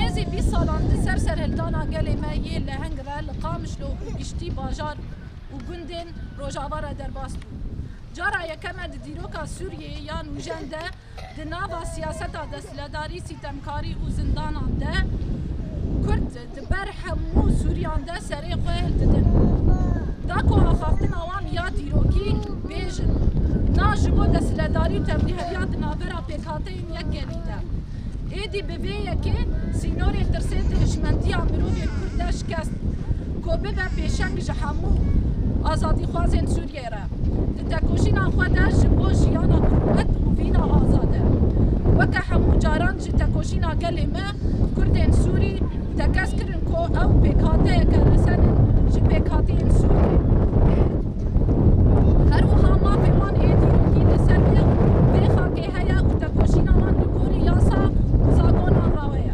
Nêzî bîst salan di ser serhildana gelê me yê leheng re li Qamişlo û giştî bajar û gundên rojava re derbas bû. Cara yekem e di dîroka Sûriyê ya nûjen de di nava siyaseta desthiledarî, sîtemkarî û zindanan de Kurd, Di ber hemû sûriyan de serê xwe didin. Da ku axaftina wan ya dîrokî bêjin, na ji bo desthiledarî û tevlîheriya di navbera pêkhateyên yekkelî de. Êdî bi vê yekê sînorê tirsê di hişmendiya mirovên kurd de şikest bû ku bibe pêşeng ji hemû azadîxwazên sûriyan. Sûriyeyê re di tekoşîna xwe de ji bo jiyana mirovet û vîna azad e. Weke hemû caran ji tekoşîna gelê me, Kurdên Sûrî tekez kirin ku ew pêkhateyeke resen in ji pêkhatiyên Sûriyeyê. Her wiha mafê wan êdî û hîn li ser vê vê xakê heye û tekoşîna wan li gorî yasa û zagonan rawe ye.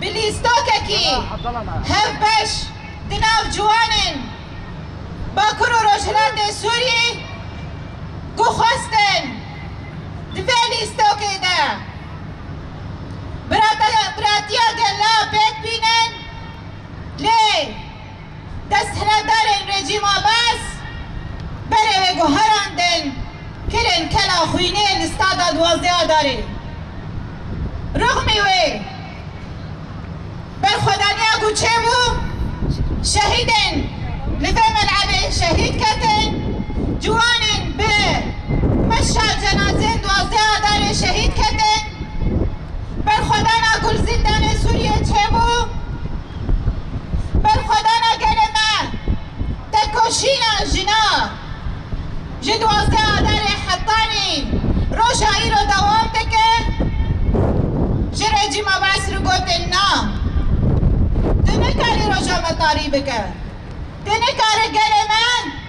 Bi lîstakekî hev beş di nav ciwanên Bakur û Rojhilatê Sûriyê ku xwestin di vê lîstakê de biratiya gella pêk bînin lê Desthilatdarên rejîma Bas berê wê guherandin kirin Kela Xwînê li Stada Duwazdêya Darê. Rixmî wê berxwedaniya ku çêbû şehîdên li vê melebê şehîd ketin, ciwanên bi meşa cenazeyên Duwazdêya Darê şehîd ketin, berxwedana ku li Zîndanê Sûriyê çêbû, Berxwedana gelê me, tekoşîna jinan ji duwazdeh Adarê hetanî roja îro dewam dike. Ji rejîma Bes re gotin na, tu nikarî roja me tarî bike, tu nikarî gelê me